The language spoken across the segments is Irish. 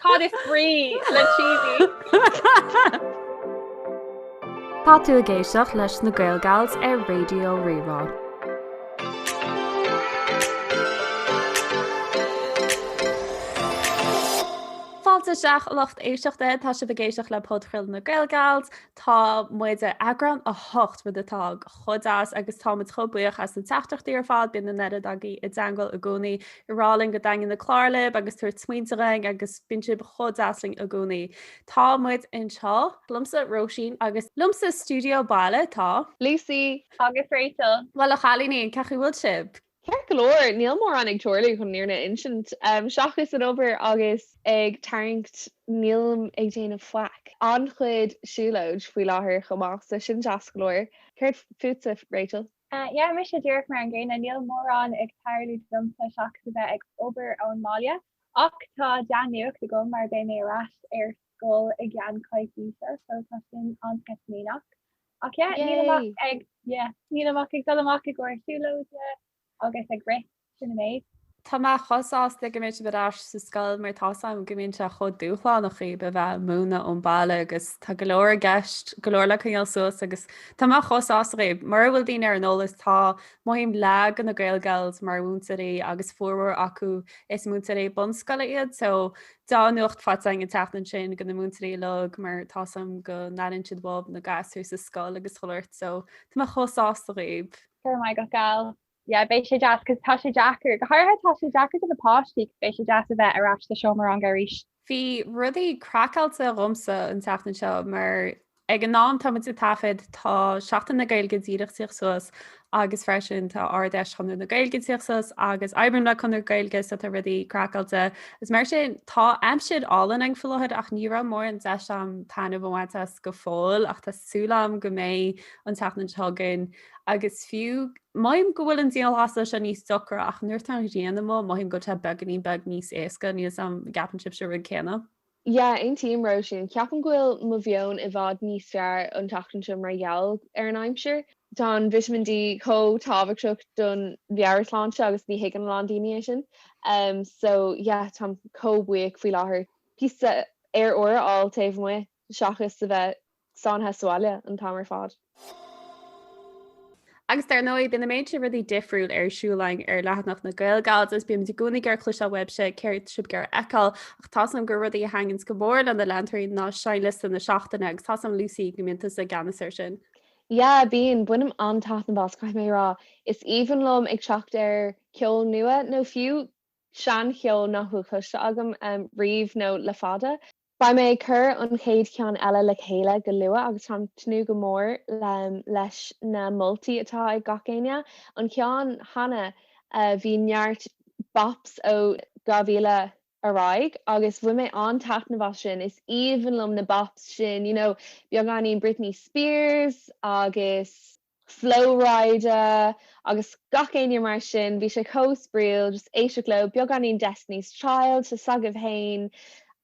Cad is brí le cheesy? Tá tú ag éisteacht leis na Gaelgals ar Raidió Rí-Rá. Fáilte isteach lucht éisteachta, tá sibh ag éisteacht le Podchraoladh na Gaelgals, Tá muid ar eagrán 8, rud atá chomh deas agus tá muid chomh buíoch as na teachtaireachtaí ar fad, bíonn an oiread agaibh i dteagmháil i gcónaí ag rá linn go dtaitníonn na cláir libh agus ag tabhairt smaointe dhúinn agus bíonn sibh chomh deas linn i gcónaí. Tá muid anseo liomsa, Róisín, agus liomsa i stiúideo baile tá Lucy agus Rachel. Bhuel a chailíní, cén chaoi a bhfuil sibh? Ceart go leor, níl mórán ag tarlú chun an fhírinne a insint, seachas an obair agus ag tarraingt, nílim ag déanamh faic. An-chuid siúlóid faoi láthair chomh maith, so sin deas go leor. Céard fútsa, Rachel? Yeah, mise díreach mar an gcéanna, níl mórán ag tarlú domsa seachas a bheith ag obair ón mbaile, ach tá dea-nuacht agam mar beidh mé ar ais ar scoil i gceann coicíse so tá sin an-sceitimíneach ach yeah, nílim ach ag dul amach i gcóir siúlóide agus ag rith sin an méid. Tá mé chomh sásta go mbeidh sibh ar ais sa scoil mar tá 's agam go mbíonn sé chomh dúshlánach dhaoibh a bheith ag múineadh ón mbaile agus tá go leor i gceist, go leor le coinneáil suas agus tá mé chomh sásta dhaoibh. Mura bhfuil daoine ar an eolas tá, mothaím, leath de na Gaelgals mar mhúinteoirí agus formhór acu is múinteoirí bunscoile iad so Dea-nuacht faighte againn an tseachtain sin do na múinteoirí uilig mar tá 's agam go n-airíonn siad uathu na gasúir sa scoil agus chuile shórt so tá mé chomh sásta dhaoibh. Go raibh maith agat Gal. Yeah beidh sé deas cos tá sé deacair, go háirithe tá sé deacair do na páistí cos beidh sé deas a bheith ar ais sa seomra ranga arís. Bhí rudaí craiceáilte dhomsa an tseachtain seo mar Ag an am atá muid ag taifead, tá Seachtain na Gaeilge díreach ag tíocht suas agus freisin tá Ard-Fheis Chonradh na Gaeilge ag tíocht suas agus oibrím le Conradh Gaeilge so tá rudaí craiceáilte agus mar sin tá aimsir álainn againn faoi láthair ach ní raibh mórán deis agam taitneamh a bhaint as go fóill ach tá súil agam go mbeidh an tseachtain seo chugainn agus fiú mothaím go bhfuil an dianghlasú seo níos deacra ach nuair atá an ghrian amuigh mothaím go bhfuil sé beagainín beag níos éasca níl a fhios agam an gceapann sibhse an rud céanna? Yeah, aontaím, Róisín. Ceapaim go bhfuil mo mheon i bhfad níos fearr an tseachtain seo mar gheall ar an aimsir. Tá an vitamin D chomh tábhachtach don mheabhairshláinte agus ní thuigeann a lán daoine é sin. So, yeah, táim chomh buíoch faoi láthair píosa aer úr a fháil taobh amuigh seachas a bheith sáinnithe sa bhaile an t-am ar fad. Agus dar ndóigh, bíonn an méid sin rudaí difriúil ar siúl againn ar leathanach na Gaelgals, is bímid i gcónaí ag iarraidh cloisteáil uaibhse céard atá sibh ag iarraidh a fheiceáil, ach tá's agam gur rudaí a thaitníonns go mór le na leantóirí ná seinnliosta na seachtaine, agus tá's agam Lucy go mbíonn tusa i gceannas ar sin. Yeah, bíonn, bainim an-taitneamh as, caithfidh mé a rá. Is aoibhinn liom ag teacht ar cheol nua, nó fiú seancheol nach bhfuil cloiste agam riamh nó le fada. Beidh mé ag cur an chéad cheann eile le chéile go luath agus táim ag tnúth go mór leis na moltaí atá ag gach éinne. An ceann cheana bhí neart bops ó 2000 ar aghaidh agus bhain mé an-taitneamh as sin. Is aoibhinn liom na bops sin, you know, beagáinín Britney Spears agus. Flo Rida agus gach éinne mar sin, bhí sé chomh spraíúil just éisteacht leo, beagáinín Destiny's Child, tá's agaibh fhéin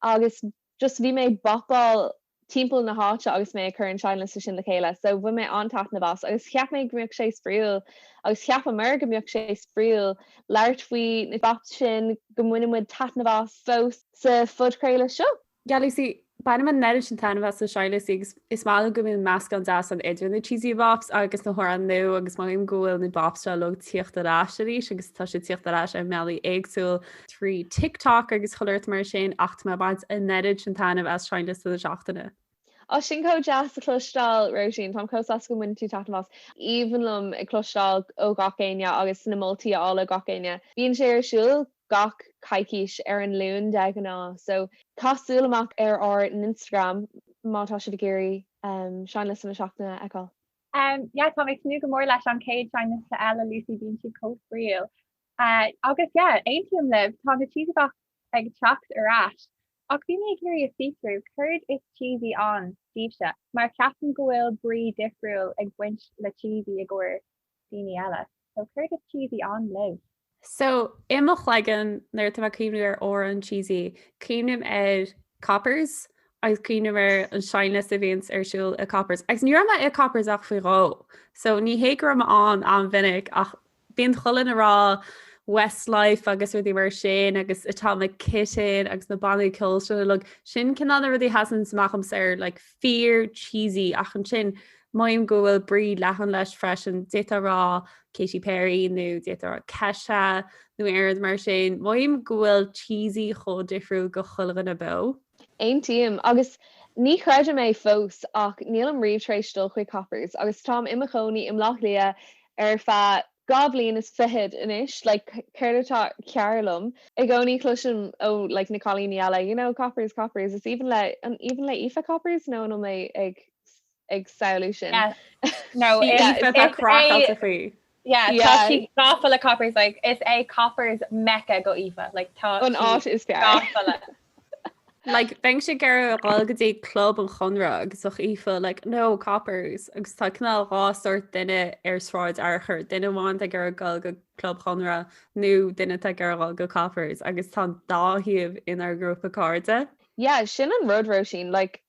agus just bhí mé ag bopáil timpeall na háite agus mé ag cur an seinnliosta sin le chéile so bhain mé an-taitneamh as agus cheap mé go mbeadh sé spraíúil agus cheapamar go mbeadh sé spraíúil labhairt faoi na bops sin go mbaineann muid taitneamh as fós sa phodchraoladh seo. Yeah Lucy, bainim an oiread sin taitneamh as na seinnliostaí agus is maith liom go mbíonn meascán deas ann idir na cheesy bops agus na hamhráin nua agus mothaím go bhfuil na bops seo uilig ag tíocht ar ais arís agus tá siad tíocht ar ais i mbealaí éagsúla trí TikTok agus chuile shórt mar sin ach tá mé ag baint an oiread sin taitneamh as seinnliosta na seachtaine. Ó sin chomh deas a chloisteáil Róisín, táim chomh sásta go mbaineann tú taitneamh as. Aoibhinn liom ag cloisteáil ó gach éinne agus na moltaí a fháil ó gach éinne. Bíonn sé ar siúl gach coicís, ar an Luan de ghnáth. So, caith súil amach ar ár nInstagram má tá sibh ag iarraidh seinnliosta na seachtaine a fheiceáil. Yeah, tá mé ag tnúth go mór leis an chéad seinnliosta eile, Lucy, bíonn siad chomh spraíúil! Agus yeah, aontaím libh, tá na cheesy bops ag teacht ar ais, ach bhí mé ag iarraidh a fiosrú céard is cheesy ann daoibhse, mar ceapaim go bhfuil brí difriúil ag baint le cheesy i gcomhair daoine eile, so céard is cheesy ann libh? So, i mo chloigeann, nuair atá mé ag cuimhniú ar amhrán cheesy, cuimhním ar Coppers agus cuimhním ar an seinnliosta a bhíonns ar siúl i Coppers. Agus ní raibh mé i Coppers ach faoi dhó, so ní hé go raibh mé ann an-mhinic ach bíonn chuile duine ag rá Westlife agus rudaí mar sin agus Atomic Kitten agus na bannaí ceoil sin uilig, sin cineál na rudaí a sheasanns amach dhomsa mar like fíor cheesy ach ansin mothaím go bhfuil brí leathan leis freisin, d'fhéadfá a rá Katy Perry nó d'fhéadfá a rá Kesha nó aon rud mar sin. Mothaím go bhfuil cheesy chomh difriúil do chuile dhuine beo. Aontaím. Agus ní chreidim é fós ach nílim riamh tar éis dul chuig Coppers agus táim i mo chónaí i mBleá Cliath ar feadh dhá bhliain is fichead anois like céard atá cearr liom i gcónaí cloisim ó like na cailíní eile you know coppers coppers is aoibhinn le an aoibhinn le Aoife coppers nó an bhfuil mé ag ag samhlú sin yeah no yeah yeah she's awful at coppers like it's a coppers mecca go Aoife like tá an áit is fearr Like, bheinnse ag iarraidh a ghoil go dtí club an Chonradh agus bheadh Aoife like, no coppers! Agus tá cineál dhá sórt duine ar Sráid Fhearchair, duine amháin atá ag iarraidh dul go Club Chonradh nó duine atá ag iarraidh dul go coppers, agus tá an dá thaobh inár ngrúpa cairde. Yeah, sin an rud, Róisín, like,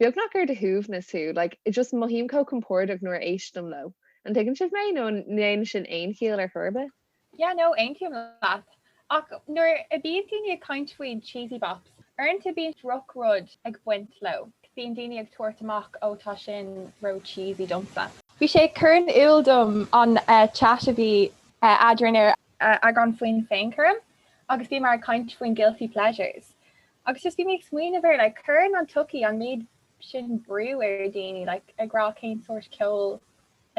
beagnach ar do shuaimhneas thú, like, I just mothaím chomh compordach nuair a éistim leo, an dtuigeann sibh mé? nó an ndéanann sin aon chiall ar chor ar bith? Yeah, no, aontaím leat. Ach nuair a bíonn daoine ag caint faoin cheesy bops, uaireanta bíonn droch-rud ag baint leo, bíonn daoine ag tabhairt amach, oh tá sin ró-cheesy domsa. Bhí sé ag cur in iúl dom an chat a bhí eadrainn ar. eagrán faoin féinchúram agus bhíomar ag caint faoin guilty pleasures Agus just bhí mé ag smaoineamh ar like cuireann an tsochaí an méid sin brú ar dhaoine like ag rá cén sórt ceol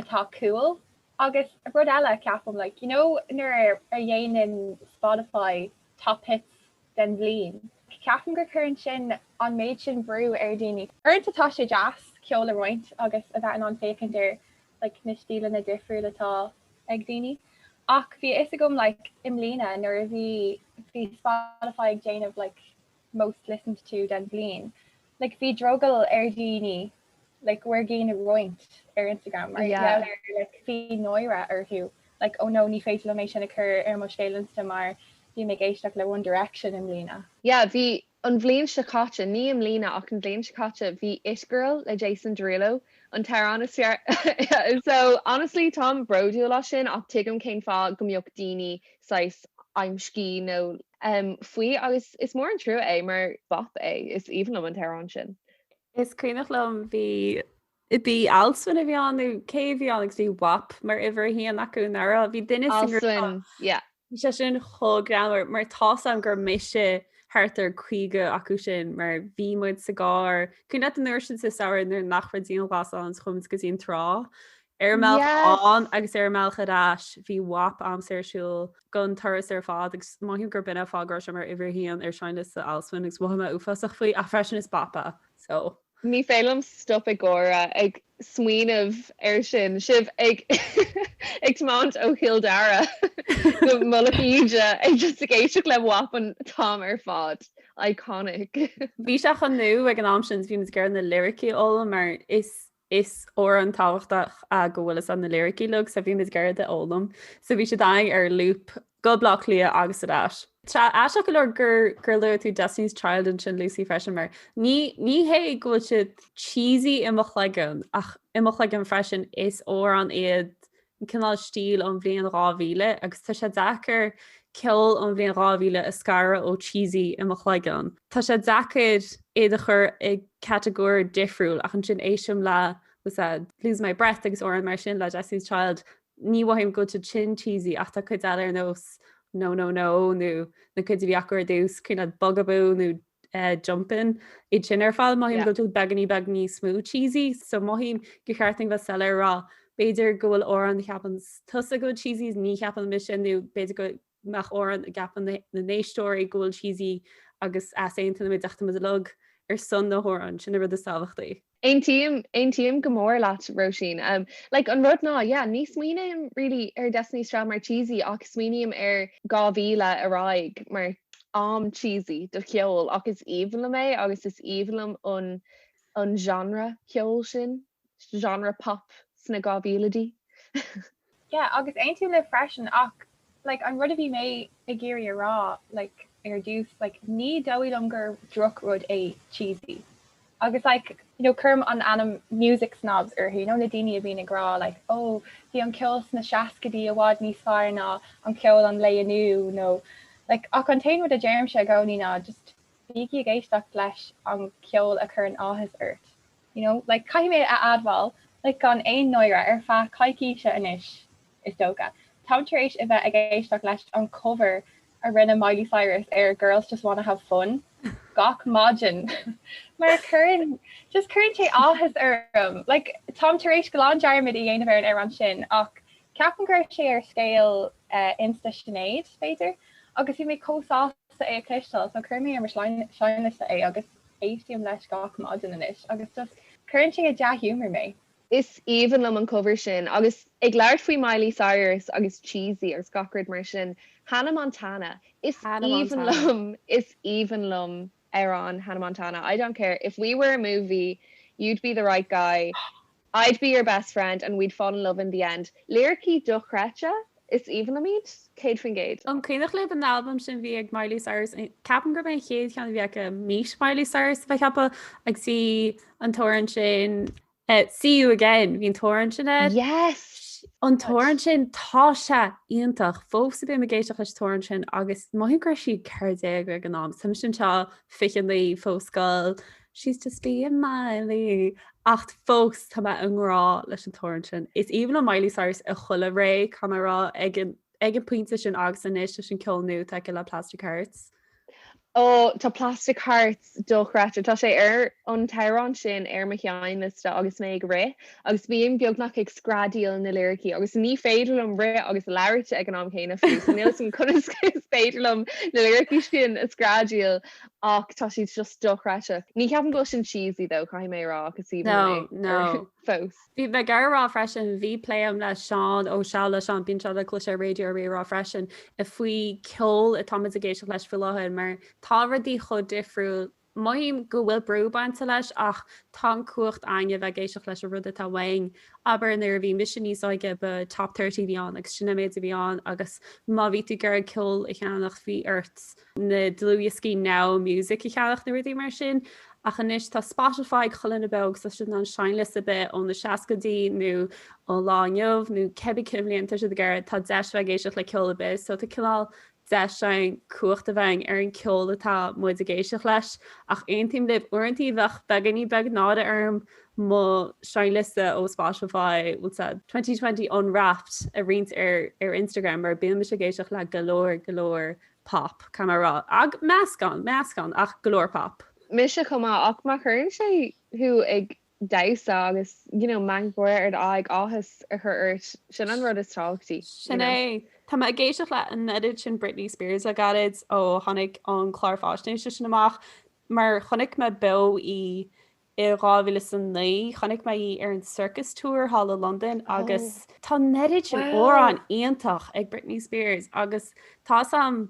atá cool agus rud eile ceapaim like you know nuair a dhéanann Spotify top hits den bhliain ceapaim gur cuireann sin an méid sin brú ar dhaoine. Uaireanta tá sé deas ceol a roinnt agus a bheith in ann féachaint ar like, na stíleanna difriúil atá ag daoine ach bhí a fhios agam like, i mbliana nuair a bhí, bhí Spotify ag déanamh like, most listened to den bhliain, like, bhí drogall ar dhaoine like, bhur gceann a roinnt ar Instagram mar yeah. gheall ar like, bhí náire orthu like, oh no, ní féidir liom é sin a chur ar mo scéal Insta mar bhí mé ag éisteacht le One Direction i mbliana. Yeah, bhí, An bhliain seo caite, ní i mbliana ach an bhliain seo caite, bhí It Girl le Jason Derulo an t-amhrán is fearr i. So, honestly, táim bródúil as sin ach tuigim cén fáth go mbeadh daoine saghas amscaí nó. em, faoi agus is mór an trua é mar bop é, is aoibhinn liom an t-amhrán sin. Is cuimhneach liom bhí. Ab í Alswyn a bhí ann nó cé a bhí ann agus bhí wap mar uimhir a haon acu, nach raibh? Bhí duine sa ngrúpa, Alswyn, yeah. Bhí sé sin chomh greannmhar mar tá's a'm gur mise thart ar 50 acu sin mar bhí muid sa gcarr, cuimhin leat an uair sin sa samhradh nuair nach raibh dianghlas ann is chuaigh muid go dtí an trá? Ar an mbealach Yes! ann agus ar an mbealach ar ais bhí wap a'msa ar siúl gon turas ar fad agus mothaím gurb in é an fáth go raibh sé mar uimhir a haon ar sheinnliosta Alswyn agus mhothaigh mé uafásach faoi ach freisin is bop é so Ní féidir liom stop ag gáire ag smaoineamh air sin, sibh ag tiomáint ó Chill Dara go Mullach Íde agus ag éisteacht le wap an t-am ar fad. Iconic! Bhí sé chomh nó ag an am sin bhí muid ag iarraidh na liricí a fhoghlaim mar is amhrán tábhachtach é go bhfuil na liricí uilig so bhí muid ag iarraidh iad a fhoghlaim so bhí sé againn ar loop go Bleá Cliath agus ar ais. Sea, aisteach go leor gur gur luaigh tú Destiny's Child ansin Lucy freisin mar ní ní hé go bhfuil siad cheesy i mo chloigeann ach i mo chloigeann freisin is amhráin iad an cineál stíl ón bhliain 2000 agus tá sé deacair ceol ón bhliain 2000 a scaradh ó cheesy i mo chloigeann. Tá sé deacair iad a chur i catagóir difriúil ach ansin éistim le what's that Lose My Breath agus amhráin mar sin le Destiny's Child ní mhothaím go bhfuil siad sin cheesy ach tá cuid eile ar nós No No No nó na cuid a bhí acu ar dtús, cineál Bugaboo nó Jumpin, iad sin ar fad mothaím go bhfuil siad beagáinín beag níos mó cheesy so mothaím gur cheart dúinn bheith soiléir a rá b'fhéidir go bhfuil amhráin a cheapann tusa go bhfuil cheesy is ní cheapann mise nó b'fhéidir go mbeadh amhráin a gceapann na héisteoirí go bhfuil cheesy agus easaontóimid ach táimid uilig ar son na n-amhrán, sin an rud is tábhachtaí. Aontaím, aontaím go mór leat, Róisín. Like, an rud ná, yeah, ní smaoiním really ar Destiny's Child mar cheesy ach smaoiním ar 2000 ar aghaidh mar am cheesy do cheol ach is aoibhinn liom é agus is aoibhinn liom an, an genre ceoil sin, genre pop sna 2000idí. Yeah, agus aontaím libh freisin, ach like an rud a bhí mé ag iarraidh a rá like ar dtús like ní dóigh liom gur droch rud é cheesy agus like you know cuirim an ainm music snobs orthu you know na daoine a bhíonn ag rá like ó oh, bhí an ceol sna seascaidí i bhfad níos fearr ná an ceol an lae inniu nó like ach an t-aon rud a deirimse i gcónaí ná just bígí ag éisteacht leis an ceol a chuireann áthas ort you know, like, caithfidh mé a admháil, like, gan aon náire, ar feadh coicíse anois, is dócha, táim tar éis a bheith ag éisteacht leis an cover a rinne Miley Cyrus ar Girls Just Wanna Have Fun gach maidin, mar cuireann, just cuireann sé áthas orm, like, táim tar éis glan dearmad a dhéanamh ar an amhrán sin, ach ceapaim go raibh sé ar scéal Insta Sinéad, b'fhéidir, agus bhí mé chomh sásta é a chloisteáil, so chuir mé ar mo sheinnliosta é, agus. Éistím leis gach maidin anois agus just cuireann sé i dea-ghiúmar mé. Is aoibhinn liom an cover sin agus ag labhairt faoi Miley Cyrus agus cheesy agus gach rud mar sin, Hannah Montana, Hannah Montana, is aoibhinn liom, is aoibhinn liom amhráin Hannah Montana, I don't care if we were a movie, you'd be the right guy. I'd be your best friend and we'd fall in love in the end. Liricí dochreidte is aoibhinn liom iad, 100%. An cuimhneach libh an albam sin bhí ag Miley Cyrus in, ceapaim gurb é an chéad cheann a bhí aici meet Miley Cyrus a bhí air ceapaim agus bhí an t-amhrán sin See You Again, bhí an t-amhrán sin air. Yes! An t-amhrán sin, tá sé iontach! Fós bím ag éisteacht leis an t-amhrán sin agus mothaím go raibh sí 14 ag an am, is mise anseo 29 fós ag goil, She's just being Miley. Ach fós tá mé i ngrá leis an t-amhrán sin. Is aoibhinn liom Miley Cyrus i chuile ré, caithfidh mé a rá, ag an, ag an pointe sin agus anois leis an ceol nua atá aici le Plastic Hearts. Ó, tá Plastic Hearts dochreidte. Tá sé ar an t-amhrán sin ar mo sheinnliosta agus mé ag rith agus bím beagnach ag screadaíl na liricí agus ní féidir liom rith agus labhairt ag an am céanna fiú so níl 's agam conas is féidir liom na liricí sin a screadaíl Ach tá siad just dochreidte. Ní cheapaim go bhfuil sin cheesy though, caithfidh mé a rá, ach is aoibhinn No, liom é, no. ar fós. Bhí mé ag iarraidh a rá freisin, bhí plé agam le Seán Ó Sé, le Seán, bíonn sé le cloisteáil ar Raidió Rí-Rá freisin, faoi ceol atáimid ag éisteacht leis faoi láthair, mar tá rudaí chomh difriúil, mothaím go bhfuil brú bainte leis, ach tá an cumhacht againn a bheith ag éisteacht leis an rud atá uainn, abair nuair a bhí mise níos óige ba Top 30 a bhí ann agus sin an méid a bhí ann agus má bhí tú ag iarraidh ceol a cheannach bhí ort na dlúthdhioscaí Now Music a cheannach nó rudaí mar sin ach anois tá Spotify ag chuile dhuine beo agus tá siad in ann seinnliosta ar bith ó na seascaidí nó ó lá inniu nó cibé cén bhliain atá siad ag iarraidh tá deis a bheith ag éisteacht le ceol ar bith so tá cineál deis againn cumhacht a bheith againn ar an ceol atá muid ag éisteacht leis ach aontaím libh uaireanta bheadh beagainín beag náire orm mo seinnliosta ó Spotify bhfuil 's agat twenty twenty unwrapped a roinnt ar ar Instagram mar bíonn mise ag éisteacht le go leor go leor pop, caithfidh mé a rá. Ach meascán, meascán, ach go leor pop. Mise chomh maith, ach má chuireann sé thú ag damhsa agus you know meangadh gáire ar d'aghaidh, áthas a chur ort, sin an rud is tábhachtaí. Sin é. Tá mé ag éisteacht le an oiread sin Britney Spears le gairid ó tháinig an clár fáisnéise sin amach mar chonaic mé beo í I 2009 chonaic mé í ar an Circus Tour thall i Londain agus tá an oiread sin amhráin iontach ag Britney Spears agus tá's-am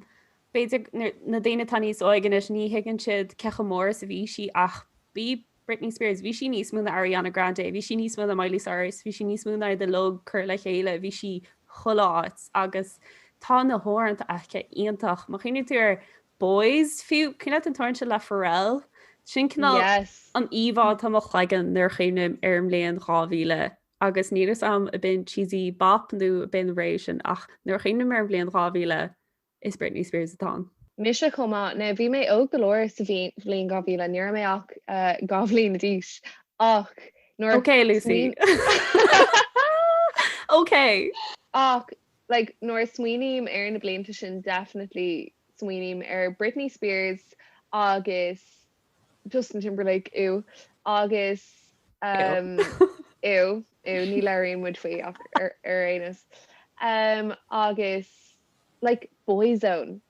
b'fhéidir na daoine atá níos óige anois ní thuigeann siad cé chomh mór is a bhí sí ach bhí Britney Spears, bhí sí níos mó ná Ariana Grande, bhí sí níos mó ná Miley Cyrus, bhí sí níos mó ná iad uilig curtha le chéile, bhí sí chuile áit agus tá na hamhráin aici iontach. Má chuimhníonn tú ar Boys, fiú. Cuimhin leat an t-amhrán sin le Pharrell? Sin cineál Yes. an íomhá atá i mo chloigeann nuair a chuimhním ar an mbliain 2000. Agus níl 'fhios a'm ab in cheesy bop nó ab in rave sin ach nuair a chuimhním ar an bhliain 2000, is Britney Spears atá ann. Mise chomh maith. Now bhí mé óg go leor sa bhliain 2000, ní raibh mé ach dhá bhliain d'aois ach nuair a smaoiním. OK, Lucy. OK! Ach like nuair a smaoiním ar na blianta sin definitely smaoiním ar Britney Spears agus Justin Timberlake ew agus em ew ew ní labhraíonn muid faoi ach ar ar aon nós em agus like Boyzone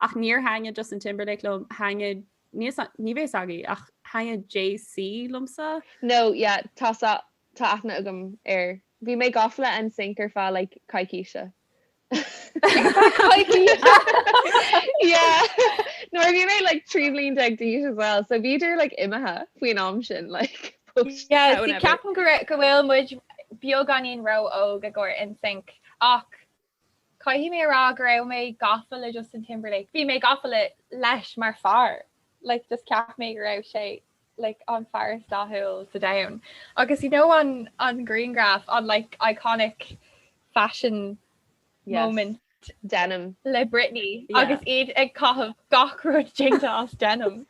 Ach níor thaitnigh Justin Timberlake liom, thaitnigh, ní bheidh fhios agaibh, ach thaitnigh JC liomsa. No, yeah, tá, tá aithne agam air. Bhí mé gafa le NSYNC ar feadh like coicíse. Coicíse! Yeah! Nuair a bhí mé like trí bhliain déag d'aois as well, so bhíodar like imithe faoin am sin like post Yeah, bhí ceapaim go raibh, go bhfuil muid beagáinín ró-óg i gcomhair NSYNC ach Caithfidh mé a rá go raibh mé gafa le Justin Timberlake, bhí mé gafa leis mar fear, like just cheap mé go raibh sé like an fear is dathúil sa domhan agus you know an an grianghraf, an like iconic fashion moment? Yes, denim. Le Britney agus iad ag caitheamh gach rud déanta as denim.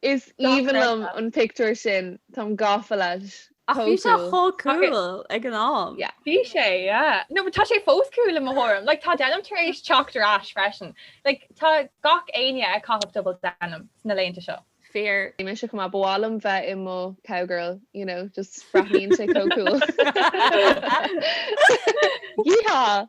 Is aoibhinn liom an pictiúr sin, táim gafa leis. Ach bhí sé chomh cool ag an am. Bhí sé, yeah. No, but tá sé fós cool i mo thuairim. Like, tá denim tar éis teacht ar ais freisin. Like, tá gach éinne ag caitheamh double denim na laethanta seo. Fíor. Mise chomh maith. Ba mhaith liom bheith i mo cowgirl, you know, just breathnaíonn sé chomh cool. Yeehaw!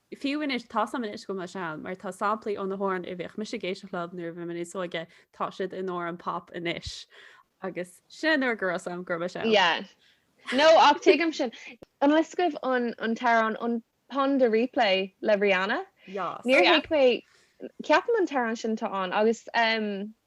Fiú anois, tá 'fhios a'm anois go bhfuil mé sean, mar tá samplaí ó na hamhráin a bhíodh mise ag éisteacht leo nuair a bhí mé níos óige, tá siad in amhráin pop anois, agus sin an uair go raibh 'fhios a'm go raibh mé sean. Yeah. No, ach tuigim sin. An bhfuil 'fhios agaibh an t-amhrán, an Pon de Replay le Rihanna. Yas. Níor thuig mé, ceapaim an t-amhrán sin atá ann, agus.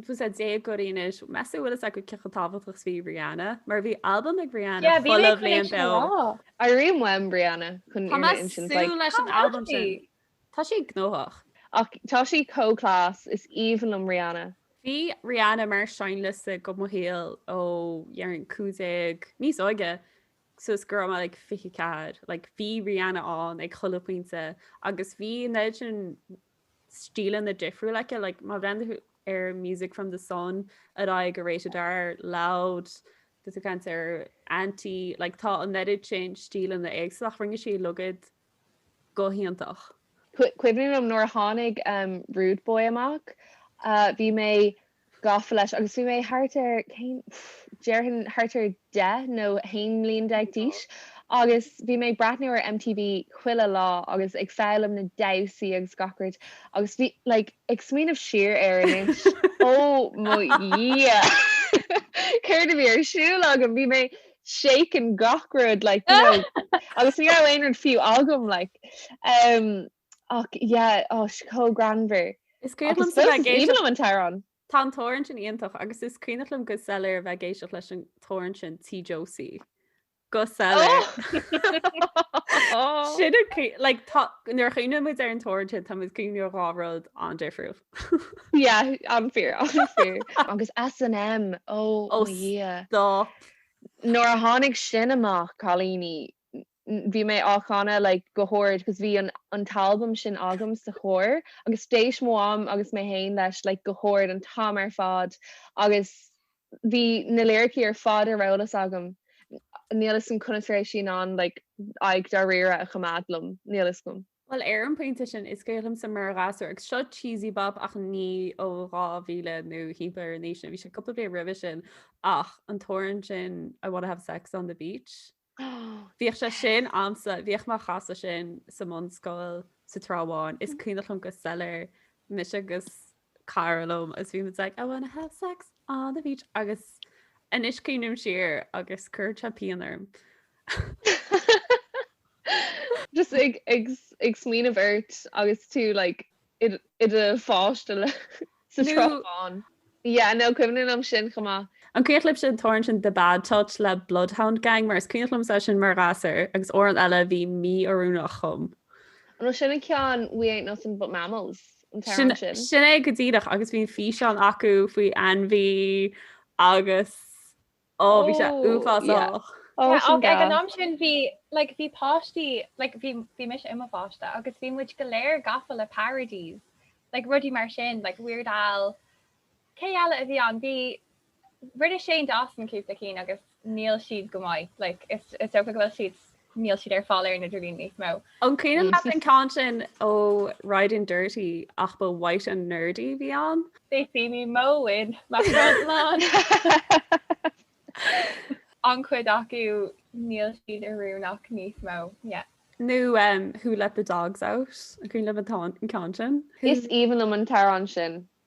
bhfuil fhios ag déagóirí anois, meas tú bhfuil fhios acu cé chomh tábhachtach 's bhí Rihanna? Mar bhí albam ag Rihanna Yeah, bhí mé chuile ag bhliain caint sin beo. lá. Airím uaim Rihanna chun Tá mé fhírinne ag insint, súil like, leis an Cá bhfuil albam sí? sin. Tá sí gnóthach. Ach tá sí chomh class, is aoibhinn liom Rihanna. Bhí Rihanna mar seinnliosta do mo shaol ó déarfainn cúig déag, níos óige, suas go raibh mé like fiche ceathair, like bhí Rihanna ann ag chuile pointe agus bhí Imagine stíleanna difriúil aici, like má bhreathnaigh tú ar Music from the Sun ar aghaidh go Rated R, Loud, tá tú ag caint ar Anti, like tá an oiread sin stíleanna éagsúla ach rinne sí a lán acu go hiontach. Cuimhním liom nuair a tháinig Rude Boy amach bhí mé gafa leis agus bhí mé thart ar, cén, déarfainn thart ar deich nó haon bhliain déag d'aois agus bhí mé ag breathnú ar MTV chuile lá agus ag foghlaim na damhsaí agus gach rud agus bhí, like, ag smaoineamh siar air anois, oh mo dhia! céard a bhí ar siúl agam, bhí mé shaking gach rud, like, you know, agus ní raibh aon rud fiú agam, like. Um, Ach yeah, chomh greannmhar. Is cuimhin liomsa a bheith ag éisteacht. Ach I suppose is aoibhinn liom an t-amhrán. Tá an t-amhrán sin iontach agus is cuimhneach liom go soiléir a bheith ag éisteacht leis an t-amhrán sin Tí Josie. Go soiléir. Oh! Sin an cuimh- like tá- nuair a chuimhneoidh muid ar an t-amhrán sin tá muid ag cuimhneamh ar dhá rud an-difriúil. Yeah, an-fhíor, an-fhíor. Agus S and M, oh, Oh, mo Dhia. stop. Nuair a tháinig sin amach, cailíní, bhí mé á chanadh like go hard because bhí an an t-albam sin agam sa charr agus d'éist mo mham agus mé féin leis like go hard an t-am ar fad agus bhí na liricí ar fad ar eolas agam níl 'fhios a'm conas a raibh sí in ann like aghaidh dáiríre a choimeád liom, níl 'fhios a'm. Bhuel ar an bpointe sin is cuimhneach liomsa mar ghasúr agus seo cheesy bop ach ní ó 2000 nó thimpeall ar an aois sin, bhí sé cúpla bliain roimhe sin ach an t-amhrán sin I wanna have sex on the beach. Bhíodh sé sin ansa, bhíodh muid ag casadh sin sa mbunscoil sa Trá Bháin, is cuimhneach liom go soiléir mise agus cara liom is bhí muid ag I wanna have sex on the beach agus anois cuimhním siar agus cuireann sé pian orm. Just ag ag ag smaoineamh ort agus tú like i do pháiste like sa Trá Bháin. Yeah, no, cuimhním liom sin chomh maith. An cuimhneach libhse an t-amhrán sin The Bad Touch le Bloodhound Gang mar is cuimhneach liomsa sin mar ghasúr agus amhrán eile bhí mí-oiriúnach dom. An raibh sin an ceann We Ain't Nothing But Mammals an t-amhrán sin? Sin é go díreach agus bhí an físeán acu faoi ainmhí agus. Ó bhí sé uafásach. Ach ag an am sin bhí like bhí páistí like bhí bhí mise i mo pháiste agus bhí muid go léir gafa le parodies like rudaí mar sin like Weird Al cé eile a bhí ann bhí rinne Shane Dawson cúpla ceann agus níl siad go maith like is is dócha go bhfuil siad Níl siad ar fáil ar an idirlíon níos mó. An cuimhneach leat an ceann sin ó Riding Dirty ach ba White and Nerdy a bhí ann? They see me mowing my front lawn. An cuid acu, níl siad ar fáil ach níos mó, yeah. Nó Who Let the Dogs Out? An cuimhneach leat an ceann sin? Is aoibhinn liom an t-amhrán sin.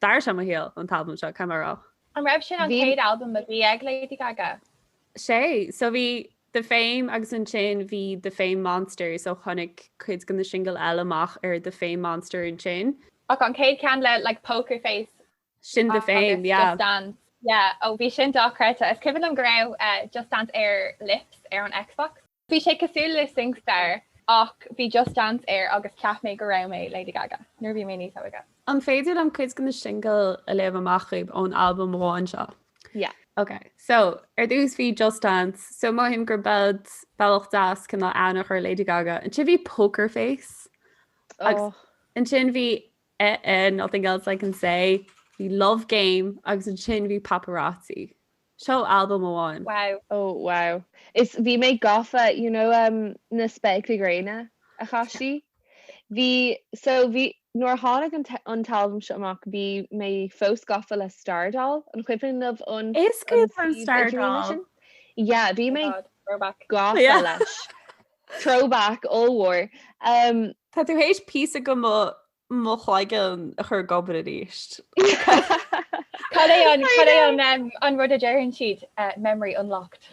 D'athraigh sé mo shaol, an t-albam seo, cé mar a. An raibh sin an chéad albam a bhí ag Lady Gaga? Sea. So bhí The Fame agus ansin bhí The Fame Monster so tháinig cuid de na singil eile amach ar The Fame Monster ansin. Ach an chéad cheann le like Poker Face. Sin The Fame, yeah. Just Dance. Yeah, ó bhí sin dochreidte. Is cuimhin liom go raibh Just Dance ar Lips ar an Xbox. Bhí sé cosúil le SingStar ach bhí Just Dance air agus cheap mé go raibh mé Lady Gaga nuair a bhí mé níos óige. An féidir liom cuid de na singil a léamh amach dhaoibh ón albam amháin seo? Yeah. Ok, so, ar dtús bhí Just Dance, so mothaím gur bead, bealach deas cineál aithne a chur ar Lady Gaga. Ansin bhí Poker Face agus Oh. ansin bhí eh eh Nothing Else I Can Say, bhí Love Game agus ansin bhí Paparazzi. Seo albam amháin. Wow. Ó, wow. Is bhí mé gafa, you know um na spéaclaí gréine a chaith sí? Bhí, so bhí, nuair a tháinig an an t-albam seo amach bhí mé fós gafa le Stardoll, an cuimhin libh an Is cuimhin liom Stardoll. suíomh idirlíne sin? Yeah, bhí mé gafa leis. Throwback, ollmhór. Tá tú th'éis píosa de mo mo chloigeann a chur ag obair aríst. Cad é an, cad é an em, an rud a deireann siad, eh, memory unlocked.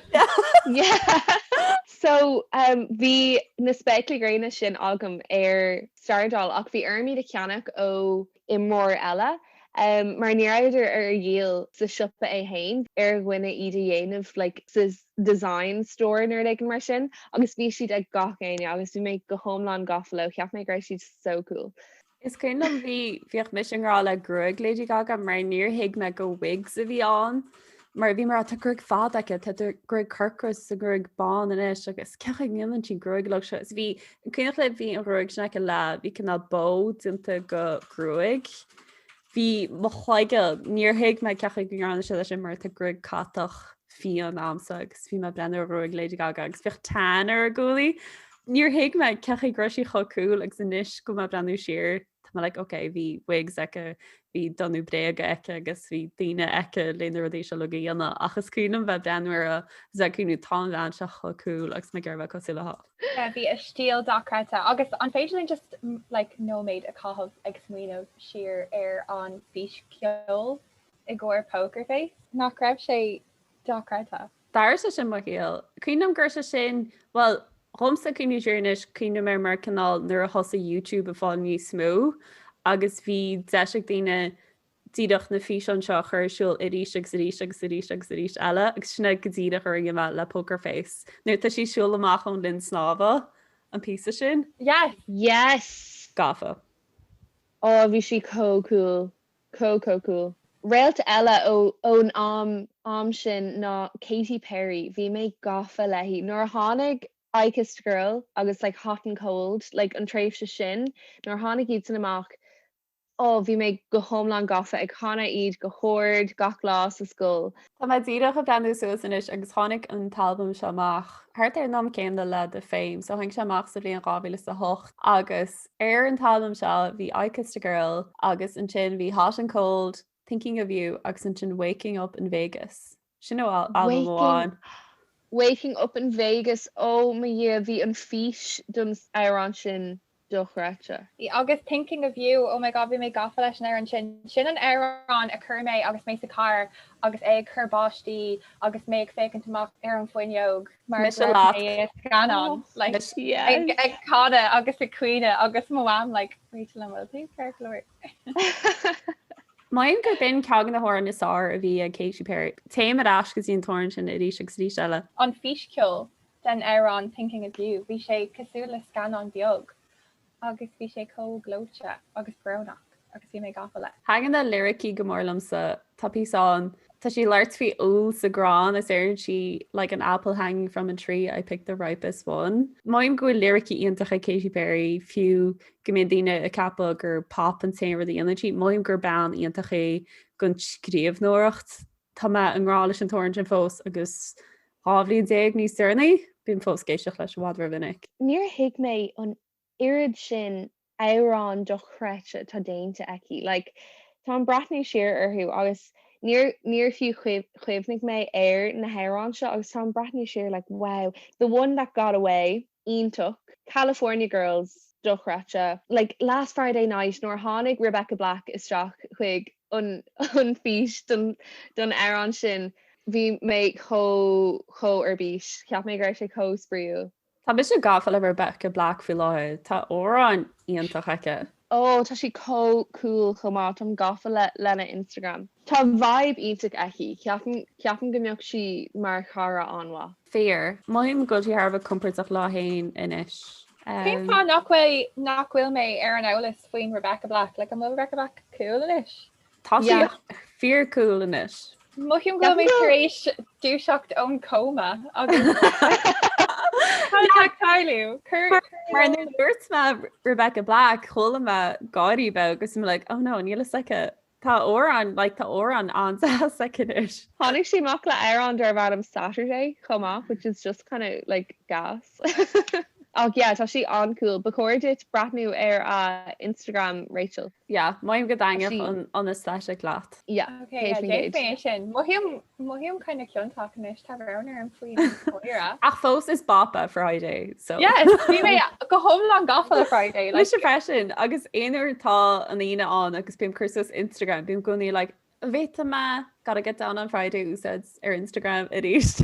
So em, bhí na spéaclaí gréine sin agam ar Stardoll ach bhí orm iad a cheannach ó imreoir eile em, mar ní rabhadar ar díol sa siopa é fhéin, bhí ar dhuine iad a dhéanamh like sa design store nó rud éigin mar sin agus bhí siad ag gach éinne agus bhí mé go hiomlán gafa leo, cheap mé go raibh siad so cool. Is cuimhin liom bhí, bhíodh mise i ngrá le gruaig Lady Gaga mar níor thuig mé gur wigs a bhí ann mar bhí mé ag rá tá gruaig fada aici, tá gruaig corcra is tá gruaig bán anois agus cén chaoi a ndéanann sí gruaig like seo. Is bhí, an cuimhneach libh bhí an ghruaig sin aici le, bhí cineál bow déanta de gruaig Bhí mo chloigeann, níor thuig mé cén chaoi go ndearna sí leis sin mar tá gruaig catach fiáin agamsa agus bhí mé ag breathnú ar ghruaig Lady Gaga agus bhíodh tan ar a guaillí. Níor thuig mé cén chaoi go raibh sí chomh cool agus anois go bhfuil mé ag breathnú siar tá mé like ok bhí wigs aici, bhí donnú bréaga aici agus bhí daoine aici le na rudaí seo uilig a dhéanamh ach is cuimhin liom bheith ag breathnú uirthi is ag cuimhneamh tá an bhean seo chomh cool agus mé ag iarraidh a bheith cosúil léi. Yeah, bhí a stíl dochreidte agus an féidir linn just like nóiméad a chaitheamh ag smaoineamh siar ar an bhfís ceoil i gcomhair Poker Face? Nach raibh sé dochreidte? D'athraigh sé sin mo shaol. Cuimhním gur sé sin, bhuel, dhomsa ag cuimhneamh siar anois, cuimhním air mar cineál nuair a thosaigh YouTube ag fáil níos mó agus bhí deis ag daoine díreach na físeáin seo a chur ar siúl arís agus arís agus arís agus arís eile agus sin é go díreach a rinne mé le Poker Face nuair atá sí ag siúl amach ón linn snámha, an píosa sin. Yes! Yes! Gafa. Ó, bhí sí chomh cool, chomh chomh cool. Réalt eile ón am, am sin ná Katy Perry, bhí mé gafa léi. Nuair a tháinig I Kissed a Girl agus like Hot and Cold, like an tréimhse sin, nuair a tháinig iadsan amach, Ó, bhí mé go hiomlán gafa, ag chanadh iad go hard gach lá sa scoil. Tá mé díreach ag breathnú suas anois agus tháinig an t-albam seo amach thart ar an am céanna le The Fame, so tháinig sé amach sa bhliain dhá mhíle is a hocht agus ar an t-albam seo bhí I Kissed a Girl agus ansin bhí Hot and Cold, Thinking of you agus ansin Waking up in Vegas. Sin ó albam amháin. Waking up in Vegas, oh mo dhia, bhí an fís don amhrán sin dochreidte. Agus Thinking of you, oh my god, bhí mé gafa leis an amhrán sin. Sin an amhrán a chuir mé agus mé sa charr agus é ag cur báistí agus mé ag féachaint amach ar an bhfuinneog mar go raibh mé i scannán like ag canadh agus ag caoineadh agus mo mham like Rachel an bhfuil tú ceart go leor? Mothaím gurb in ceann de na hamhráin is fearr a bhí ag Katy Perry. Téim ar ais go dtí an t-amhrán sin arís agus arís eile. An fís ceoil den amhrán Thinking of You, bhí sé cosúil le scannán beag agus bhí sé chomh gleoite agus brónach agus bhí mé gafa leis. Thaithin na liricí go mór liomsa Tá píosa ann. Tá sí ag labhairt faoi úll sa gcrann is deireann sí Like an apple hanging from a tree, I picked the ripest one. Mothaím go bhfuil liricí iontach ag Katy Perry, fiú go mbíonn daoine ag ceapadh gur pop an t-aon rud a dhéanann sí. Mothaím gur bean iontach í don scríobhnóireacht. Tá mé i ngrá leis an t-amhrán sin fós agus dhá bhliain déag níos deireanaí, bím fós ag éisteacht leis i bhfad ró mhinic. Níor thuig mé an oiread sin amhrán dochreidte atá déanta aici. Like, tá mé ag breathnú siar orthu agus níor, níor fiú chuimhnigh mé ar na hamhráin seo agus tá mé ag breathnú siar like wow, The One That Got Away, iontach, California Girls, dochreidte, like Last Friday Night nuair a tháinig Rebecca Black isteach chuig an, an fís don, don amhrán sin bhí mé chomh, chomh ar bís, cheap mé go raibh sé chomh spraíúil. Tá mise gafa le Rebecca Black faoi láthair, tá amhráin iontach aici. Oh, tá sí chomh cool chomh maith, táim gafa lena Instagram. Tá vibe iontach aici, ceapaim, ceapaim go mbeadh sí mar chara an-mhaith. Fíor. Mothaím go bhfuil sí thar a bheith compordach léi féin anois. Cén fáth nach bhfuil, nach bhfuil mé ar an eolas faoin Rebecca Black? Like, an bhfuil Rebecca Black cool anois? Tá sí fíor cool anois. Mothaím go bhfuil mé tar éis dúiseacht ón cóma agus chaill mé! Mar nuair a dúirt mé Rebecca Black chuala mé gáire beag agus bhí mé like oh no níl a fhios aici. Tá amhrán like tá amhrán an-deas aici anois. Tháinig sí amach le amhrán darbh ainm Saturday chomh maith which is just kind of like gas. Ach yeah, tá sí an-cool. Ba chóir duit breathnú ar a Instagram, Rachel. Yeah, mothaím go dtaitneodh an aesthetic leat. Yeah, céad faoin gcéad. Déanfaidh mé sin. Mothaím kind of ciontach anois, tá roghanna orm faoi dhíreach. Ach fós, is bop é Friday, so. Yes! Bhí mé go hiomlán gafa le Friday. Mise freisin, agus aon uair atá an Aoine ann agus bím ag cur suas Instagram, bím i gcónaí like, An bhféadfadh mé Gotta get down on Friday a úsáid ar Instagram arís?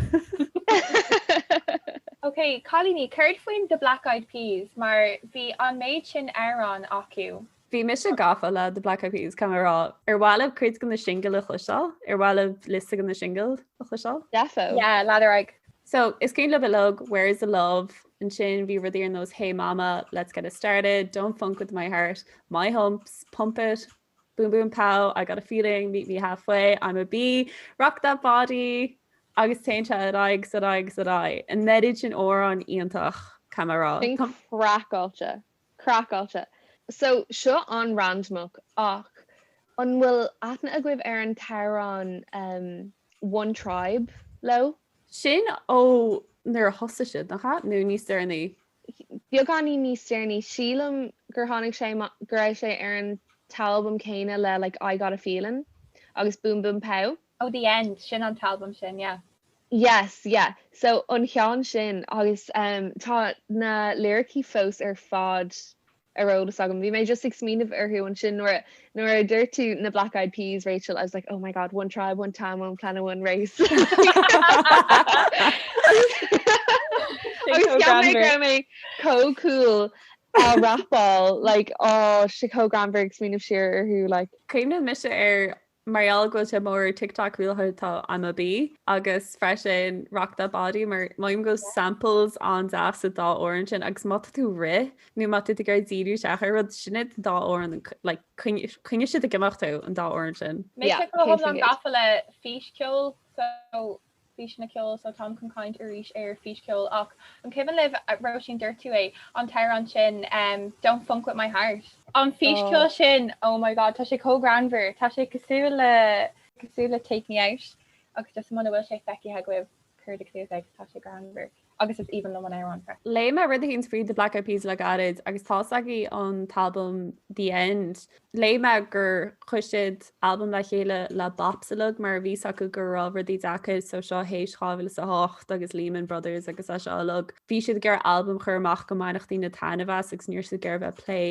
OK, cailíní, céard faoin The Black Eyed Peas, mar bhí an méid sin amhrán acu? Bhí mise gafa le The Black Eyed Peas, caithfidh mé a rá. Ar mhaith libh cuid de na singil a chloisteáil? Ar mhaith libh liosta de na singil a chloisteáil? Defo. Yeah, lean ar aghaidh. So, is cuimhin le gach duine, Where's the Love? Ansin bhí rudaí ar nós Hey Mama, Let's Get It Started, Don't Funk With My Heart, My Humps, Pump It, Boom boom pow, I got a feeling, meet me halfway, Imma be, rock that body, agus téann sé ar aghaidh, ar aghaidh, ar aghaidh. An méid sin amhrán iontach, caithfidh mé a rá? Craiceáilte, craiceáilte. So, seo an-randamach ach an bhfuil aithne agaibh ar an t-amhrán One Tribe leo? Sin ó nuair a thosaigh siad, nach ea? Nó níos deireanaí? beagáinín níos deireanaí, sílim gur tháinig sé amach go raibh sé ar an t-albam céanna le like I Got a Feeling agus Boom Boom Pow. Oh The End, sin an t-albam sin, yeah. Yes, yeah. So an cheann sin agus tá na liricí fós ar fad ar eolas agam. Bhí mé just ag smaoineamh orthu ansin nuair a, nuair a dúirt tú na Black Eyed Peas, Rachel, I was like, oh my god, one tribe, one time, one planet, one race. Agus, agus cheap mé go raibh mé chomh cool á rapáil, like, oh, sé chomh greannmhar ag smaoineamh siar orthu, like. Cuimhnigh mise ar mar gheall go bhfuil sé mór ar TikTok faoi láthair tá Imma Be agus freisin Rock That Body mar mothaím go bhfuil samples an-deas sa dá amhrán sin agus má tá tú rith nó má tá tú ag iarraidh díriú isteach ar rud sin iad an dá amhrán like coinneoidh siad ag imeacht thú an dá amhrán sin. Yeah, céad faoin gcéad. Mé an-ghafa le fís ceoil so físeanna ceoil so táim chun caint arís ar fís ceoil ach an cuimhin libh, Róisín dúirt tú é, an t-amhrán sin Don't Phunk With My Heart? An fís ceoil sin oh my god tá sé chomh greannmhar, tá sé cosúil le cosúil le Take Me Out agus just muna bhfuil sé feicthe agaibh cuardaigh suas é, tá sé greannmhar. agus is aoibhinn liom an amhrán freisin. Léigh mé rud eicínt faoi The Black Eyed Peas le gairid agus tá's agaibh an t-albam The End. Léigh mé gur chuir siad albam le chéile le Bops uilig mar a bhí s'acu go raibh rudaí deacair so seo théis 2008 agus Lehman Brothers agus é seo uilig. Bhí siad ag iarraidh albam a chur amach go mbainfeadh daoine taitneamh as agus ní raibh siad ag iarraidh bheith ag plé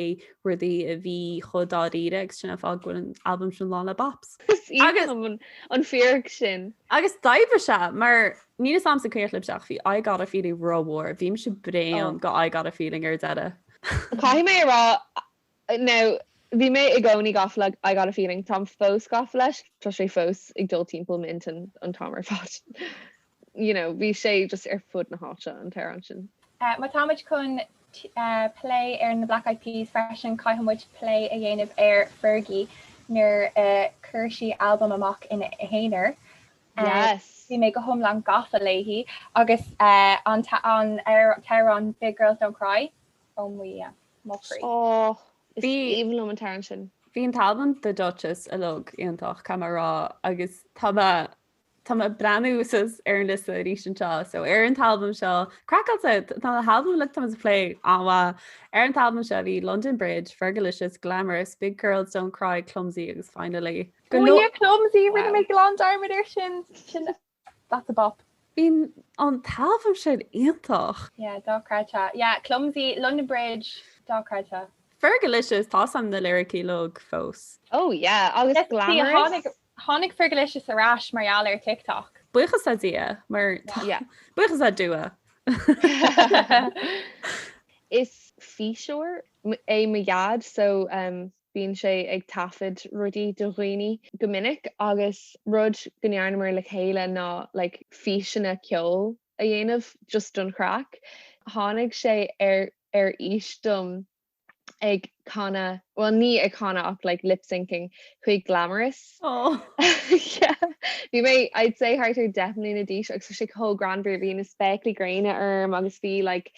rudaí a bhí chomh dáiríre agus sin an fáth go bhfuil an albam sin lán le bops. Is aoibhinn liom an fíric sin. Agus d'oibrigh sé mar Níl fhios a'msa maidir libhse ach bhí I Gotta Feeling rómhór, bhí mise bréan de I Gotta Feeling ar deireadh. Caithfidh mé a rá, now bhí mé i gcónaí gafa le I Gotta Feeling, táim fós gafa leis, tá sé fós ag dul timpeall m'intinn an t-am ar fad. You know, bhí sé just ar fud na háite an t-amhrán sin. Má tá muid chun plé ar na Black Eyed Peas freisin, caithfidh muid plé a dhéanamh ar Fergie nuair a chuir sí albam amach ina haonar. Yes. Bhí mé go hiomlán gafa léi agus an t-amhrán Big Girls Don't Cry, oh mo dhia, mo chroí. Oh, is aoibhinn liom an t-amhrán sin. Bhí an t-albam The Dutchess uilig iontach, caithfidh mé a rá, agus tá mé tá mé ag breathnú suas ar an liosta arís anseo. So ar an t-albam seo, craiceáilte, tá na halbaim uilig atá muid ag plé an-mhaith. Ar an t-albam seo bhí London Bridge, Fergalicious, Glamorous, Big Girls Don't Cry, Clumsy agus Finally. Clumsy, rinne mé glan dearmad air sin. Sin that's a bop. Bhí an t-albam sin iontach! Yeah, dochreidte. Yeah, clumsy, London Bridge, dochreidte. Fergalicious, tá's a'm na liricí uilig fós. Oh yeah, agus glamorous. Tháinig Fergalicious ar ais mar gheall ar TikTok. Buíochas le Dia, mar tá. Yeah. Buíochas le Dua. Is físeoir é mo dhaid so. Bíonn sé ag taifead rudaí do dhaoine go minic agus rud go ndearnamar le chéile ná like físeanna ceoil a dhéanamh just don chraic. Tháinig sé ar fhís díom ag canadh, bhuel ní ag canadh ach like lip-syncing chuig Glamorous Aww yeah. Bhí mé I'd say thart ar deich mbliana d'aois agus bhí sé chomh greannmhar, bhí na spéaclaí gréine orm agus bhí like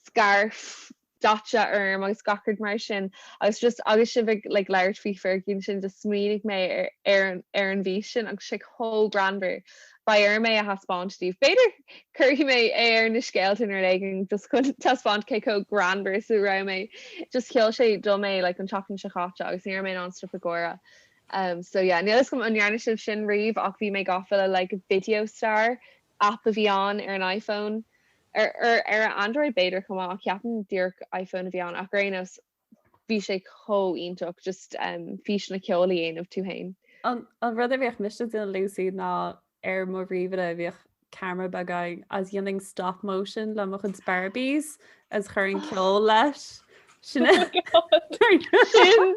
scarf daite orm agus gach rud mar sin agus just sibh ag like labhairt faoi Fergie ansin just smaoinigh mé ar ar ar an bhfís sin agus tá sé chomh greannmhar beidh orm é a thaispeáint daoibh b'fhéidir cuirfidh mé é ar na scéalta nuair éigin just chun taispeáint cé chomh greannmhar is a raibh mé just sheol sé dom é like an tseachtain seo chaite agus ní raibh mé in ann stop ag gáire Um, so yeah, níl a fhios agam an ndearna sibh sin riamh ach bhí mé gafa le like video star aip a bhí ann ar an iPhone, ar an Android b'fhéidir chomh maith ach ceapaim díreach iPhone a bhí ann ach ar aon nós bhí sé chomh iontach just físeanna ceoil a dhéanamh tú féin. An rud a bhíodh mise a dhéanamh Lucy ná ar mo ríomhaire bhíodh camera beag ann agus dhéanainn stop motion le mo chuid Barbies agus chuirinn ceol leis. Sin é. Oh my God! Sin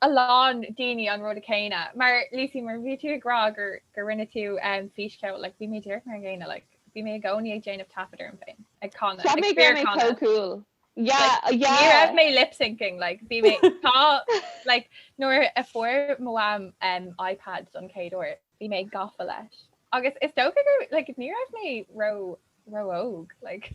a lán daoine an rud céanna Lucy mar bhí tú ag rá gur rinne tú fís cheoil like bhí mé díreach mar an gcéanna like bhí mé i gcónaí ag déanamh taifead orm féin ag canadh So cool yeah ní raibh mé lip syncing like bhí mé tá like nuair a fuair mo mham iPad don chéad uair bhí mé gafa leis agus is dócha gur like ní raibh mé ró-óg like.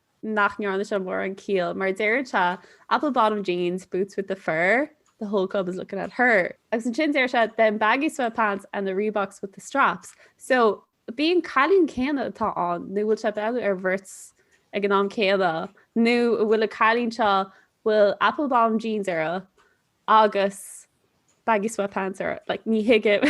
nach ndearna sé mórán ciall, mar deir sé, 'apple bottom jeans, boots with the fur, the whole club is looking at her'. Agus ansin deir sé, 'them baggy sweatpants and the Reeboks with the straps'. So, ab í an cailín céanna atá ann, nó bhfuil sé ag breathnú ar bheirt ag an am céanna, nó an bhfuil an cailín seo bhfuil apple bottom jeans uirthi, Agus baggy sweatpants uirthi, like, ní thuigim.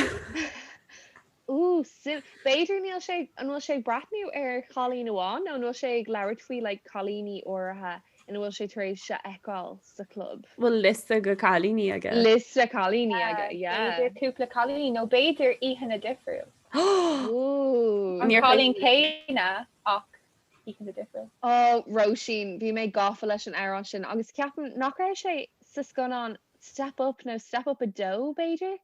Ooh, b'fhéidir níl sé, an bhfuil sé ag breathnú ar chailín amháin nó an bhfuil sé ag labhairt faoi like cailíní áirithe ina bhfuil sé tar éis a fheiceáil sa chlub? bhfuil liosta de chailíní aige. Liosta cailíní aige, yeah. B'fhéidir cúpla cailín nó b'fhéidir oícheanna difriúil. Ooh. An cailín céanna ach oícheanta difriúla. Ó, Róisín, bhí mé gafa leis an amhrán sin agus ceapaim nach raibh sé sa scannán Step Up nó Step Up 2, b'fhéidir?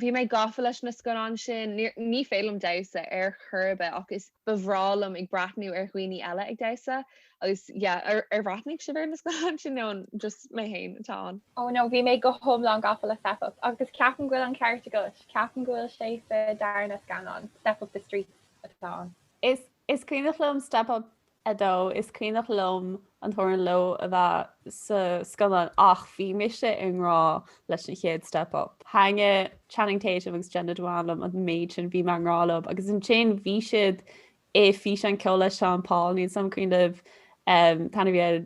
Bhí mé gafa leis na scannáin sin, ní féidir liom damhsa ar chor ar bith ach is breá liom ag breathnú ar dhaoine eile ag damhsa agus yeah, ar bhreathnaigh sibh ar na scannáin sin nó an just mé féin atá ann? Ó no, bhí mé go hiomlán gafa le Step Up agus ceapaim go bhfuil an ceart agat, ceapaim go bhfuil sé sa darna scannán, Step Up, The Streets atá ann. Is Is cuimhneach liom Step Up 2, is cuimhneach liom an t-amhrán Low a bheith sa scannán ach bhí mise i ngrá leis an chéad Step Up. Thaitnigh Channing Tatum agus Jenna Dewan liom an méid sin, bhí mé i ngrá leo agus ansin bhí siad i físeán ceoil le Sean Paul, níl sé i m'intinn anois.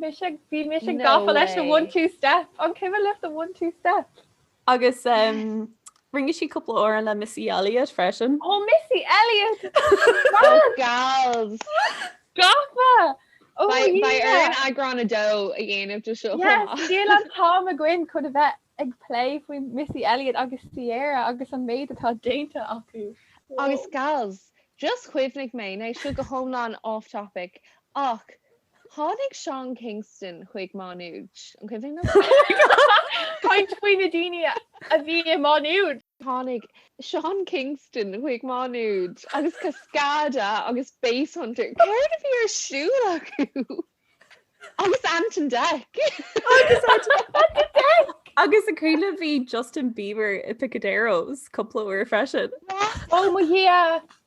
Bhí mise gafa leis an one two step. An cuimhin libh an one two step. Agus rinne sí cúpla amhrán le Missy Elliott freisin. Ó Missy Elliott! Ó gals! Gafa! Ó Beidh Aoife! beidh orainn eagrán a dó a dhéanamh de seo chomh Yes, maith. níl an t-am againn chun a bheith ag plé faoi Missy Elliott agus Ciara agus an méid atá déanta acu. Agus gals, just chuimhnigh mé, ní seo go hiomlán off topic, ach Tháinig Sean Kingston chuig Má Nuad, an cuimhin leat? Caint faoi na daoine a bhí i Má Nuad! Tháinig Sean Kingston chuig Má Nuad agus Cascada agus Basshunter, céard a bhí ar siúl acu? agus Ant and Dec! Agus Ant and Dec! Agus an cuimhin libh bhí Justin Bieber i Picaderos cúpla uair freisin. Ó mo dhia!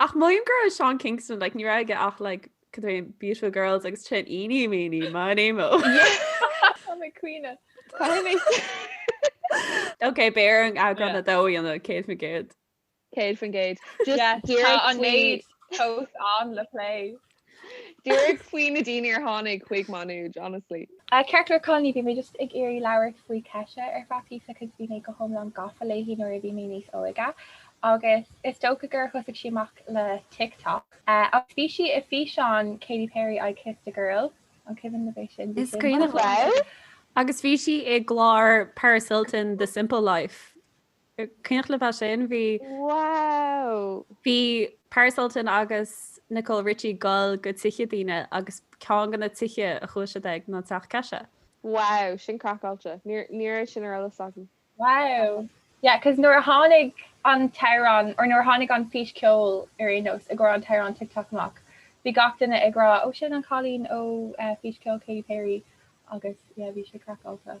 Ach oh my God Seán Kingston, like, ní raibh aige ach, like, cad é, Beautiful Girls agus sin Eenie Meenie Miney Mo. Tá mé ag caoineadh. Caithfidh mé a rá. Ok, beidh orainn eagrán 2 a dhéanamh, 100%. 100%. Just díreach faoi. Tá an méid sin ann le plé. Díreach faoi na daoine a tháinig chuig Má Nuad, honestly. Ah ceart go leor a chailíní, bhí mé just ag iarraidh labhairt faoi Kesha ar feadh píosa cause bhí mé go hiomlán gafa léi nuair a bhí mé níos óige agus is dócha gur thosaigh sí amach le TikTok agus bhí sí i bhfíseán Katy Perry I Kissed a Girl, an cuimhin libh é sin? Is cuimhin liom. Agus bhí sí i gclár Paris Hilton The Simple Life. An cuimhin libh é sin? Bhí. Wow! Bhí Paris Hilton agus Nicole Richie goil go tithe daoine agus ceann de na tithe a chuaigh siad chuige ná Teach Kesha. Wow, sin craiceáilte. Níor, ní raibh sin ar eolas agam. Wow! Yeah, cause nuair a tháinig an t-amhrán, or nuair a tháinig an fís ceoil ar ndóigh, i gcomhair an t-amhrán TikTok amach, bhí gach duine ag rá, oh sin an cailín ó fís ceoil Katy Perry agus yeah, bhí sé craiceáilte.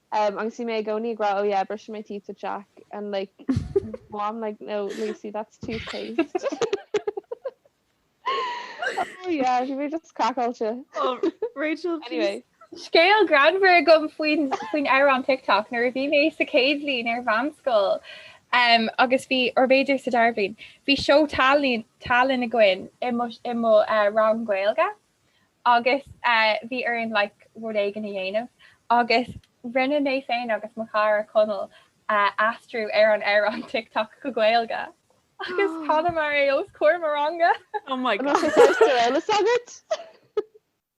Umm agus bhí mé i gcónaí ag rá oh yeah brushing my teeth with Jack and like mom like no Lucy that's toothpaste oh yeah bhí mé just craiceáilte. Oh Rachel anyway. Scéal greannmhar agam faoin faoin amhrán TikTok nuair a bhí mé sa chéad bhliain ar mheánscoil umm agus bhí or b'fhéidir sa dara bhliain bhí seó tallainn tallainn againn i mo i mo rang Gaeilge agus bhí orainn like rud éigin a dhéanamh agus rinne mé féin agus mo chara Conall aistriú ar an amhrán Tic Toc go Gaeilge agus chanamar é os comhair mo ranga! Oh my God! Bhí sé fursta eile s'agat?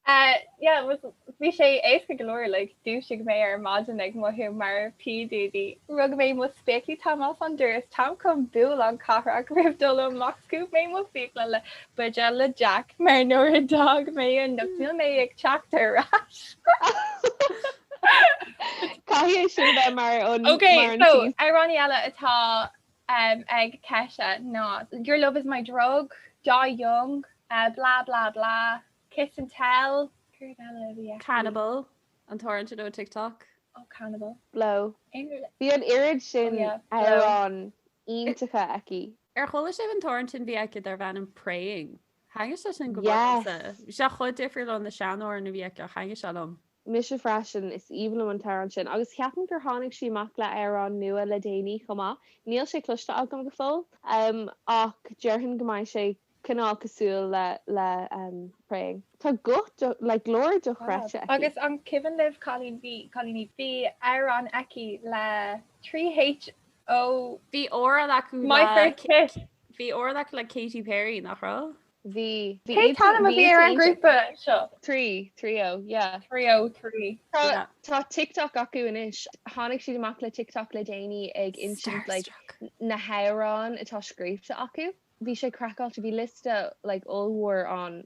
Uh yeah was bhí sé éasca go leor like dúisigh mé ar maidin ag mothú mar P. Diddy, rug mé mo spéaclaí táim ar fán doras, táim chun bualadh an cathrach roimh dul amach, scuab mé m'fhiacla le Buidéal Jack, mar nuair a d'fhág mé anocht níl mé ag teacht ar ais. Caithfidh sin a bheith mar an mar an t-aon. Ok, so amhránaí eile atá ag Kesha ná Your love is my drug, Die young, blah blah blah, Kiss and tell, céard eile a bhí aici? Cannibal, an t-amhrán sin ó TikTok. Oh Cannibal. Blow. Bhí an oiread sin amhrán iontacha aici. Ar chuala sibh an t-amhrán sin bhí aici darb ainm Praying? Thaitnigh sé sin go mór liomsa. Yes! Bhí sé chomh difriúil ó na sean-amhráin a bhí aici ach thaitnigh sé liom. Mise freisin, is aoibhinn liom an t-amhrán sin agus ceapaim gur tháinig sí amach le hamhrán nua le déanaí chomh maith, níl sé cloiste agam go fóill ach déarfainn go mbeidh sé cineál cosúil le Praying. Tá guth, like glór dochreidte aici. Agus an cuimhin libh, a chailíní, bhí amhrán aici le 3H O, bhí amhrán acu le... My first kiss! Bhí amhrán acu le Katy Perry, nach raibh? Bhí. Cén t-ainm a bhí ar an ghrúpa seo? Three, Three O, yeah. Three O Three. Tá TikTok acu anois. Tháinig siad amach le TikTok le déanaí ag insint like na hamhráin atá scríbhte acu. Bhí sé craiceáilte, bhí liosta like ollmhór ann.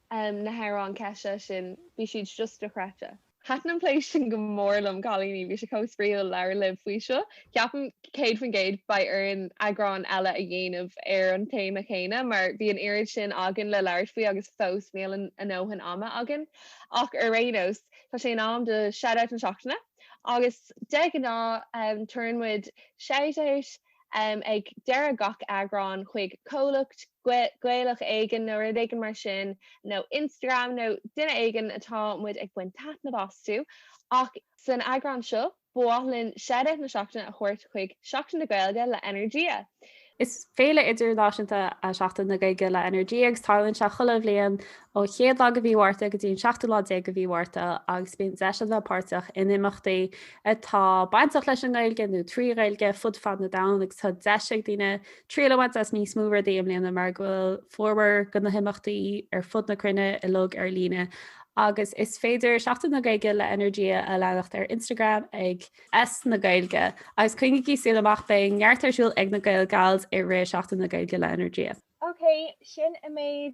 em na hamhráin Kesha sin, bhí siad just dochreidte. Thaitin an plé sin go mór liom, cailíní, bhí sé chomh spraíúil labhairt libh faoi seo. Ceapaim, céad faoin gcéad, beidh orainn eagrán eile a dhéanamh ar an téama céanna mar bhí an oiread sin againn le labhairt faoi agus fós níl ár ndóthain ama againn. Ach ar aon nós, tá sé in am do Shout-Out na Seachtaine agus de ghnáth, em tabharann muid Shout-Out, ag deireadh gach eagráin chuig comhlacht Gaelach éigin nó rud éigin mar sin, nó Instagram nó duine éigin atá muid ag baint taitneamh astu. Ach san eagrán seo, ba mhaith linn shout-out na seachtaine a thabhairt chuig Seachtain na Gaeilge le Energia. Is féile idirnáisiúnta í Seachtain na Gaeilge le Energia agus tarlaíonn sé chuile bhliain ó chéad lá de mhí Mhárta go dtí an seachtú lá déag de mhí Mhárta agus bíonn deis ann a bheith páirteach in imeachtaí atá bainteach leis an nGaeilge nó trí Ghaeilge fud fad na domhan agus tá deis ag daoine triail a bhaint as níos mó rudaí i mbliana mar go bhfuil formhór de na himeachtaí ar fud na cruinne uilig ar líne agus is féidir Seachtain na Gaeilge le Energia a leanacht ar Instagram ag S na Gaeilge agus coinnígí súil amach beidh neart ar siúl ag na Gael Gals i rith Seachtain na Gaeilge le Energia. Ok, sin an méid